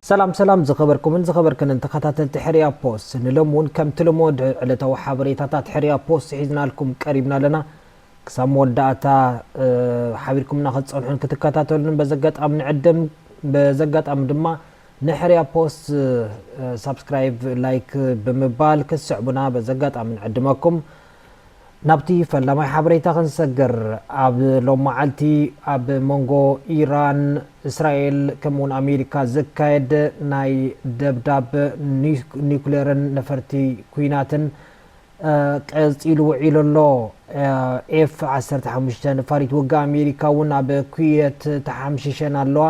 ሰላም ሰላም ዝኸበርኩምን ዝኸበርክንን ተኸታተልቲ ሕርያ ፖስት ንሎም እውን ከምቲ ልሙድ ዕለታዊ ሓበሬታታት ሕርያ ፖስት ሒዝናልኩም ቀሪብና ኣለና ክሳብ መወዳእታ ሓቢርኩምና ክትፀንሑን ክትከታተሉን በዘጋጣሚ ንዕድም በዘጋጣሚ ድማ ንሕርያ ፖስት ሳብስክራይብ ላይክ ብምባል ክትስዕቡና በዚ ኣጋጣሚ ንዕድመኩም። ናብቲ ፈላማይ ሓበሬታ ክንሰግር ኣብ ሎም መዓልቲ ኣብ መንጎ ኢራን እስራኤል ከምኡ ውን ኣሜሪካ ዝካየድ ናይ ደብዳብ ኒኩሌርን ነፈርቲ ኩናትን ቀፂሉ ውዒሉ ኣሎ። ኤፍ ዓሰርተ ሓሙሽተ ነፋሪት ውግእ ኣሜሪካ እውን ኣብ ኩዌት ተሓምሺሸን ኣለዋ።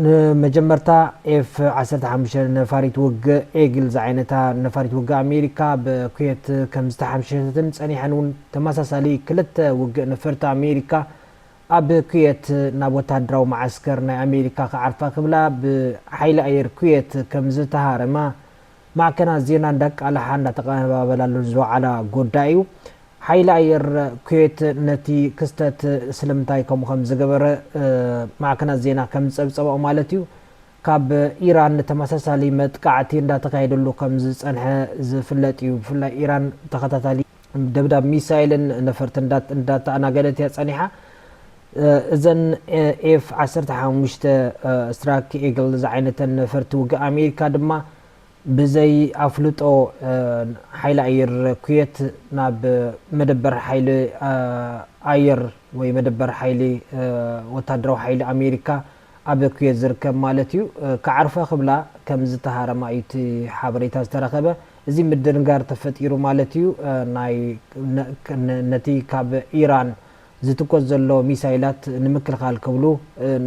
ንመጀመርታ ኤፍ ዓሰርተ ሓሙሽተ ነፋሪት ውግእ ኤግል ዝዓይነታ ነፋሪት ውግእ ኣሜሪካ ኣብ ኩዌት ከምዝተሓምሸሸትን ጸኒሐን እውን ተመሳሳሊ ክልተ ውግእ ነፈርቲ ኣሜሪካ ኣብ ኩዌት ናብ ወተሃደራዊ መዓስከር ናይ ኣሜሪካ ክዓርፋ ክብላ ብሓይሊ ኣየር ኩዌት ከምዝተሃረማ ማዕከናት ዜና እንዳቃልሓ እንዳተቐነባበላሉን ዝወዓላ ጉዳይ እዩ። ሓይሊ ኣየር ኩዌት ነቲ ክስተት ስለምንታይ ከምኡ ከም ዝገበረ ማዕከናት ዜና ከም ዝጸብጸባኦ ማለት እዩ ካብ ኢራን ተመሳሳሊ መጥቃዕቲ እንዳተካየደሉ ከም ዝጸንሐ ዝፍለጥ እዩ። ብፍላይ ኢራን ተኸታታሊ ደብዳብ ሚሳይልን ነፈርቲ እንዳተኣናገደት እያ ፀኒሓ። እዘን ኤፍ ዓሰርተ ሓሙሽተ ስትራክ ኤግል ዝዓይነተን ነፈርቲ ውግእ ኣሜሪካ ድማ ብዘይ ኣፍልጦ ሓይሊ ኣየር ኩዌት ናብ መደበር ሓይሊ ኣየር ወይ መደበር ሓይሊ ወታደራዊ ሓይሊ ኣሜሪካ ኣብ ኩዌት ዝርከብ ማለት እዩ ክዓርፋ ክብላ ከም ዝተሃረማ እዩ እቲ ሓበሬታ ዝተረኸበ። እዚ ምድንጋር ተፈጢሩ ማለት እዩ ናይ ነቲ ካብ ኢራን ዝትኮስ ዘሎ ሚሳይላት ንምክልኻል ክብሉ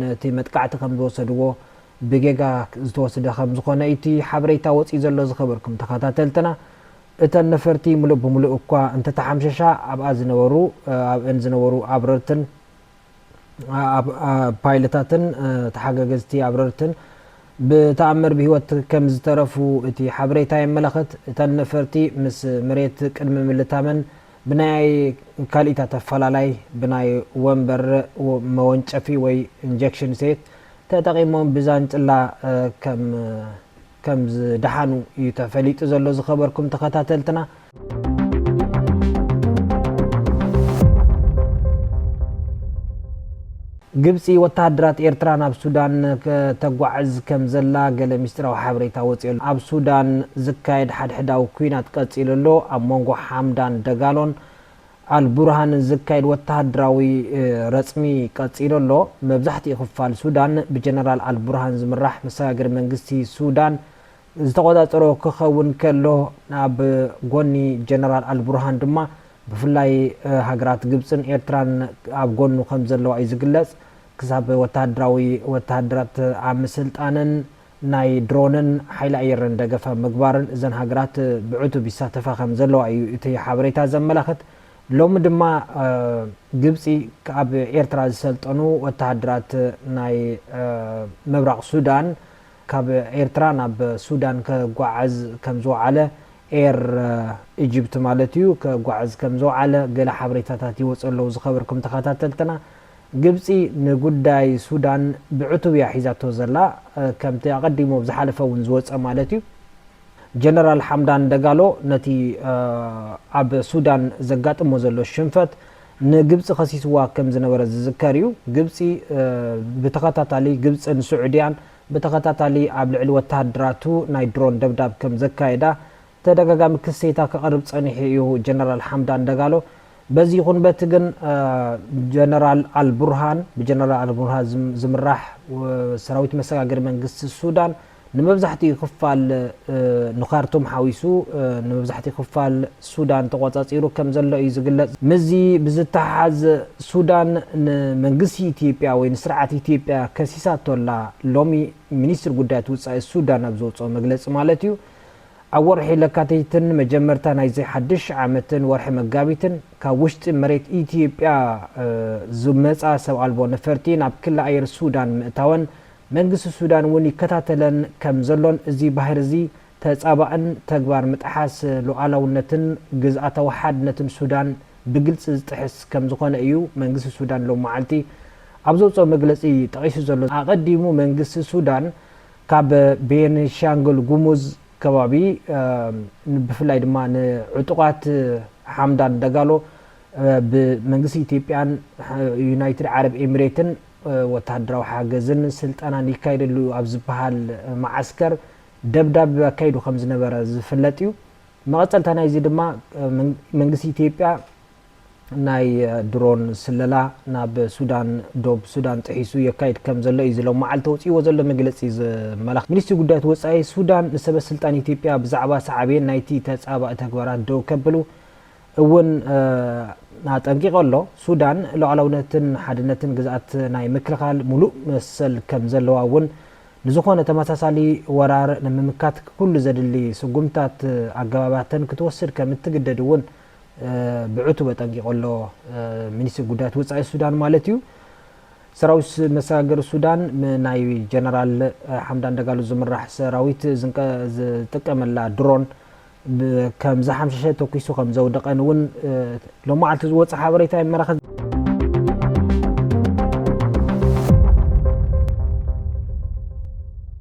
ነቲ መጥቃዕቲ ከም ዝወሰድዎ ብጌጋ ዝተወስደ ከም ዝኾነ እዩ እቲ ሓበሬታ ወጺኡ ዘሎ ዝኸበርኩም ተኸታተልትና እተን ነፈርቲ ምሉእ ብምሉእ እኳ እንተተሓምሸሻ ኣብኣ ዝነበሩ ኣብእን ዝነበሩ ኣብረርትን ፓይለታትን ተሓጋገዝቲ ኣብረርትን ብተኣምር ብህይወት ከምዝተረፉ እቲ ሓበሬታ የመላኽት። እተን ነፈርቲ ምስ መሬት ቅድሚ ምልታመን ብናይ ካልኢት ኣተፈላላይ ብናይ ወንበር መወንጨፊ ወይ ኢንጀክሽን ሴት ተጠቒሞም ብዛንጭላ ከም ከም ዝደሓኑ እዩ ተፈሊጡ ዘሎ ዝከበርኩም ተከታተልትና። ግብጺ ወተሃደራት ኤርትራ ናብ ሱዳን ከተጓዕዝ ከም ዘላ ገለ ምስጢራዊ ሓበሬታ ወጺኡ ኣሎ። ኣብ ሱዳን ዝካየድ ሓድሕዳዊ ኲናት ቀጺሉ ኣሎ። ኣብ መንጎ ሓምዳን ደጋሎን ኣልቡርሃን ዝካየድ ወተሃደራዊ ረጽሚ ቀጺሉ ኣሎ። መብዛሕትኡ ክፋል ሱዳን ብጀነራል ኣልቡርሃን ዝምራሕ መሰጋገሪ መንግስቲ ሱዳን ዝተቖጻጸሮ ክኸውን ከሎ፣ ኣብ ጎኒ ጀነራል ኣልቡርሃን ድማ ብፍላይ ሃገራት ግብጽን ኤርትራን ኣብ ጎኑ ከምዘለዋ እዩ ዝግለጽ። ክሳብ ወተሃደራዊ ወተሃደራት ኣብ ምስልጣንን ናይ ድሮንን ሓይሊ ኣየርን ደገፍ ኣብ ምግባርን እዘን ሃገራት ብዕቱብ ይሳተፋ ከምዘለዋ እዩ እቲ ሓበሬታ ዘመላኽት። ሎሚ ድማ ግብጺ ኣብ ኤርትራ ዝሰልጠኑ ወተሃደራት ናይ ምብራቕ ሱዳን ካብ ኤርትራ ናብ ሱዳን ከጓዕዝ ከምዝወዓለ ኤር ኢጅፕቲ ማለት እዩ ከጓዕዝ ከምዝወዓለ ገለ ሓበሬታታት ይወጹ ኣለዉ ዝኸበርኩም ተኸታተልትና። ግብጺ ንጉዳይ ሱዳን ብዕቱብ እያ ሒዛቶ ዘላ፣ ከምቲ ኣቐዲሙ ኣብ ዝሓለፈ እውን ዝወጸ ማለት እዩ። ጀነራል ሓምዳን ደጋሎ ነቲ ኣብ ሱዳን ዘጋጥሞ ዘሎ ሽንፈት ንግብጺ ከሲስዋ ከም ዝነበረ ዝዝከር እዩ። ግብጺ ብተኸታታሊ ግብጽን ስዑድያን ብተኸታታሊ ኣብ ልዕሊ ወተሃደራቱ ናይ ድሮን ደብዳብ ከም ዘካየዳ ተደጋጋሚ ክሲታ ከቕርብ ጸኒሑ እዩ ጀነራል ሓምዳን ደጋሎ። በዚ ይኹን በቲ ግን ጀነራል ኣልቡርሃን፣ ብጀነራል ኣልቡርሃን ዝምራሕ ሰራዊት መሰጋገሪ መንግስቲ ሱዳን፣ ንመብዛሕትኡ ክፋል ንካርቱም ሓዊሱ ንመብዛሕትኡ ክፋል ሱዳን ተቖጻጺሩ ከም ዘሎ እዩ ዝግለጽ። ምስዚ ብዝተሓሓዝ ሱዳን ንመንግስቲ ኢትዮጵያ ወይ ንስርዓት ኢትዮጵያ ከሲሳቶ ኣላ፣ ሎሚ ሚኒስትሪ ጉዳያት ውጻኢ ሱዳን ኣብ ዘውጽኦ መግለጺ ማለት እዩ። ኣብ ወርሒ ለካቲትን መጀመርታ ናይዚ ሓድሽ ዓመትን ወርሒ መጋቢትን ካብ ውሽጢ መሬት ኢትዮጵያ ዝመጻ ሰብ ኣልቦ ነፈርቲ ናብ ክሊ ኣየር ሱዳን ምእታወን መንግስቲ ሱዳን እውን ይከታተለን ከም ዘሎን እዚ ባህሪ እዚ ተጻባእን ተግባር ምጥሓስ ሉኣላውነትን ግዝኣታዊ ሓድነትን ሱዳን ብግልጺ ዝጥሕስ ከም ዝኾነ እዩ መንግስቲ ሱዳን ሎሚ መዓልቲ ኣብ ዘውጽኦ መግለጺ ጠቒሱ ዘሎ። ኣቐዲሙ መንግስቲ ሱዳን ካብ ቤንሻንጉል ጉሙዝ ከባቢ ብፍላይ ድማ ንዕጡቓት ሓምዳን ደጋሎ ብመንግስቲ ኢትዮጵያን ዩናይትድ ዓረብ ኤሚሬትን ወተሃደራዊ ሓገዝን ስልጠናን ይካየደሉ እዩ ኣብ ዝበሃል መዓስከር ደብዳብ ኣካይዱ ከም ዝነበረ ዝፍለጥ እዩ። መቐጸልታ ናይዚ ድማ መንግስቲ ኢትዮጵያ ናይ ድሮን ስለላ ናብ ሱዳን ዶብ ሱዳን ጥሒሱ የካይድ ከም ዘሎ እዩ እዚ ሎማዓልቲ ኣውጺእዎ ዘሎ መግለጺ ዘመላኽት። ሚኒስትሪ ጉዳያት ወጻኢ ሱዳን ንሰበስልጣን ኢትዮጵያ ብዛዕባ ሳዕቤን ናይቲ ተጻባኢ ተግባራት ደው ከብሉ እውን ኣጠንቂቑ ኣሎ። ሱዳን ሉዓላውነትን ሓድነትን ግዝኣት ናይ ምክልኻል ሙሉእ መሰል ከም ዘለዋ እውን ንዝኾነ ተመሳሳሊ ወራር ንምምካት ኩሉ ዘድሊ ስጉምትታት ኣገባባትን ክትወስድ ከም እትግደድ እውን ብዕቱብ ኣጠንቂቑ ኣሎ፣ ሚኒስትሪ ጉዳያት ወጻኢ ሱዳን ማለት'ዩ። ሰራዊት መሰጋገሪ ሱዳን ናይ ጀነራል ሓምዳን ደጋሎ ዝምራሕ ሰራዊት ዝጥቀመላ ድሮን ከም ዝሓምሸሸ ተኲሱ ከም ዘውደቐን እውን ሎማዓልቲ ዝወፀ ሓበሬታ የመላኽት።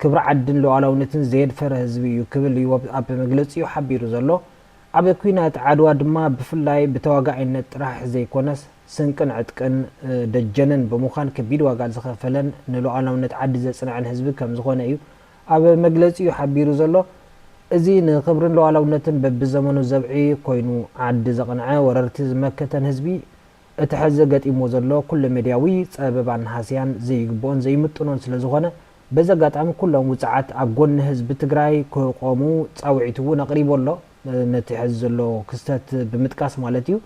ክብሪ ዓድን ሉኣላውነትን ዘየድፈረ ህዝቢ እዩ ክብል እዩ ኣብ መግለጺኡ ሓቢሩ ዘሎ። ኣብ ኲናት ዓድዋ ድማ ብፍላይ ብተዋጋኣይነት ጥራሕ ዘይኮነስ ስንቅን ዕጥቅን ደጀንን ብምዃን ከቢድ ዋጋ ዝኸፈለን ንሉኣላውነት ዓዲ ዘጽንዐን ህዝቢ ከምዝኾነ እዩ ኣብ መግለጺኡ ሓቢሩ ዘሎ። እዚ ንክብርን ሉኣላውነትን በብዘመኑ ዘብዒ ኮይኑ ዓዲ ዘቕንዐ ወረርቲ ዝመከተን ህዝቢ እቲ ሐዚ ገጢምዎ ዘሎ ኩለ ሜድያዊ ፀበባን ሃስያን ዘይግብኦን ዘይምጥኖን ስለዝኾነ በዚ ኣጋጣሚ ኩሎም ውፅዓት ኣብ ጎኒ ህዝቢ ትግራይ ክቆሙ ፃውዒት እውን ኣቕሪቡ ኣሎ። ነቲ ሐዚ ዘሎ ክስተት ብምጥቃስ ማለት እዩ።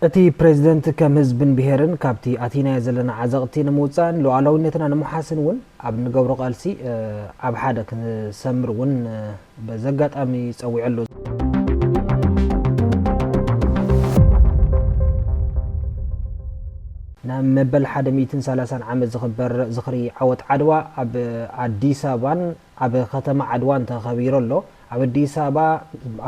እቲ ፕሬዝደንት ከም ህዝብን ብሄርን ካብቲ ኣቲናዮ ዘለና ዓዘቕቲ ንምውፃእን ሉኣላዊነትና ንምውሓስን እውን ኣብ እንገብሮ ቃልሲ ኣብ ሓደ ክንሰምር እውን በዚ ኣጋጣሚ ጸዊዑ ኣሎ። ንመበል ሓደ ሚእትን ሰላሳን ዓመት ዝኽበር ዝኽሪ ዓወት ዓድዋ ኣብ ኣዲስ ኣበባን ኣብ ከተማ ዓድዋን ተኸቢሩ ኣሎ። ኣብ ኣዲስ ኣበባ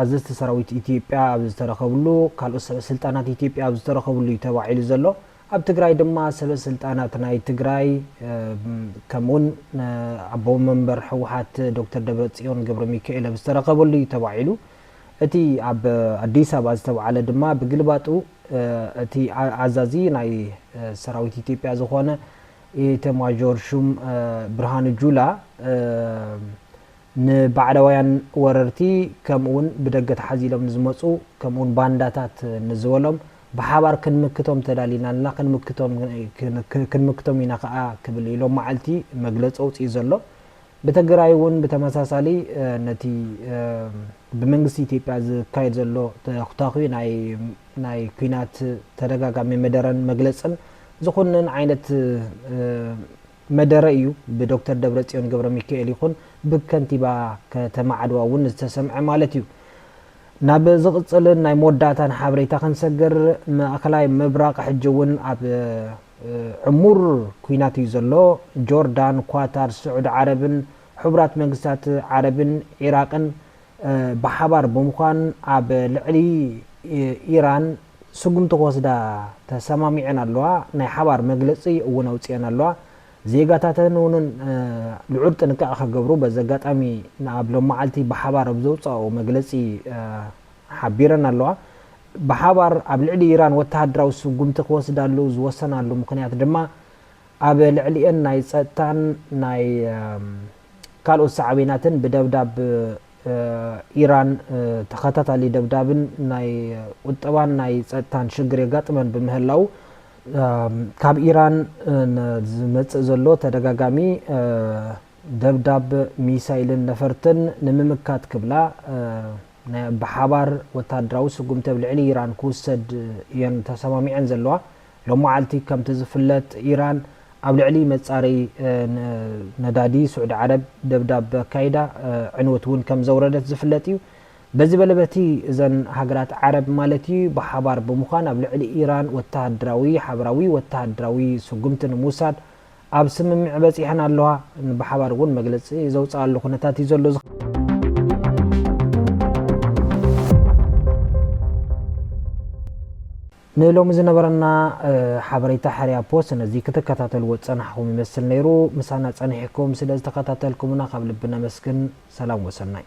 ኣዘዝቲ ሰራዊት ኢትዮጵያ ኣብ ዝተረኸብሉ፣ ካልኦት ሰበ ስልጣናት ኢትዮጵያ ኣብ ዝተረኸብሉ እዩ ተባዒሉ ዘሎ። ኣብ ትግራይ ድማ ሰበስልጣናት ናይ ትግራይ ከምኡ እውን ኣቦ መንበር ህወሓት ዶክተር ደብረፅዮን ገብረሚካኤል ኣብ ዝተረኸበሉ እዩ ተባዒሉ። እቲ ኣብ ኣዲስ ኣበባ ዝተብዓለ ድማ ብግልባጡ እቲ ኣዛዚ ናይ ሰራዊት ኢትዮጵያ ዝኾነ ኢተማዦር ሹም ብርሃኑ ጁላ ንባዕዳውያን ወረርቲ ከምኡ እውን ብደገ ተሓዚሎም ንዝመፁ ከምኡ እውን ባንዳታት ንዝበሎም ብሓባር ክንምክቶም ተዳሊና ኣለና፣ ክንምክቶም ኢና ከኣ ክብል እዩ ሎም መዓልቲ መግለጺ ኣውጺኡ ዘሎ። ብተግራይ'ውን ብተመሳሳሊ ነቲ ብመንግስቲ ኢትዮጵያ ዝካየድ ዘሎ ተኹታዂ ናይ ኲናት ተደጋጋሚ መደረን መግለጽን ዝኹንን ዓይነት መደረ እዩ ብዶክተር ደብረጽዮን ገብረሚካኤል ይኹን ብከንቲባ ከተማ ዓድዋ እውን ዝተሰምዐ ማለት እዩ። ናብ ዝቕጽልን ናይ መወዳእታን ሓበሬታ ክንሰግር፣ ማእከላይ ምብራቕ ሕጂ እውን ኣብ ዕሙር ኲናት እዩ ዘሎ። ጆርዳን፣ ኳታር፣ ስዑዲ ዓረብን ሕቡራት መንግስታት ዓረብን ዒራቕን ብሓባር ብምዃን ኣብ ልዕሊ ኢራን ስጉምቲ ክወስዳ ተሰማሚዐን ኣለዋ፣ ናይ ሓባር መግለጺ እውን ኣውጺኤን ኣለዋ። ዜጋታተን እውን ልዑል ጥንቃቐ ክገብሩ በዚ ኣጋጣሚ ኣብ ሎማዓልቲ ብሓባር ኣብ ዘውፀኣኦ መግለፂ ሓቢረን ኣለዋ። ብሓባር ኣብ ልዕሊ ኢራን ወተሃደራዊ ስጉምቲ ክወስዳሉ ዝወሰናሉ ምኽንያት ድማ ኣብ ልዕሊኤን ናይ ፀጥታን ናይ ካልኦት ሳዕቤናትን ብደብዳብ ኢራን ተኸታታሊ ደብዳብን ናይ ቁጠባን ናይ ፀጥታን ሽግር የጋጥመን ብምህላዉ ካብ ኢራን ዝመጽእ ዘሎ ተደጋጋሚ ደብዳብ ሚሳይልን ነፈርትን ንምምካት ክብላ ናይ ብሓባር ወተሃደራዊ ስጉምቲ ኣብ ልዕሊ ኢራን ክውሰድ እየን ተሰማሚዐን ዘለዋ። ሎማዓልቲ ከምቲ ዝፍለጥ ኢራን ኣብ ልዕሊ መጻረይ ነዳዲ ስዑዲ ዓረብ ደብዳብ ኣካይዳ ዕንወት እውን ከምዘውረደት ዝፍለጥ እዩ። በዚ በለ በቲ እዘን ሃገራት ዓረብ ማለት እዩ ብሓባር ብምዃን ኣብ ልዕሊ ኢራን ወተሃደራዊ ሓበራዊ ወተሃደራዊ ስጉምቲ ንምውሳድ ኣብ ስምምዕ በጺሐን ኣለዋ። ብሓባር እውን መግለጺ ዘውጽኣሉ ኩነታት እዩ ዘሎ። ንሎሚ ዝነበረና ሓበሬታ ሕርያ ፖስት ነዚ ክትከታተልዎ ዝጸናሕኹም ይመስል ነይሩ። ምሳና ጸኒሕኩም ስለ ዝተኸታተልኩምና ካብ ልቢ ነመስግን። ሰላም ወሰናይ።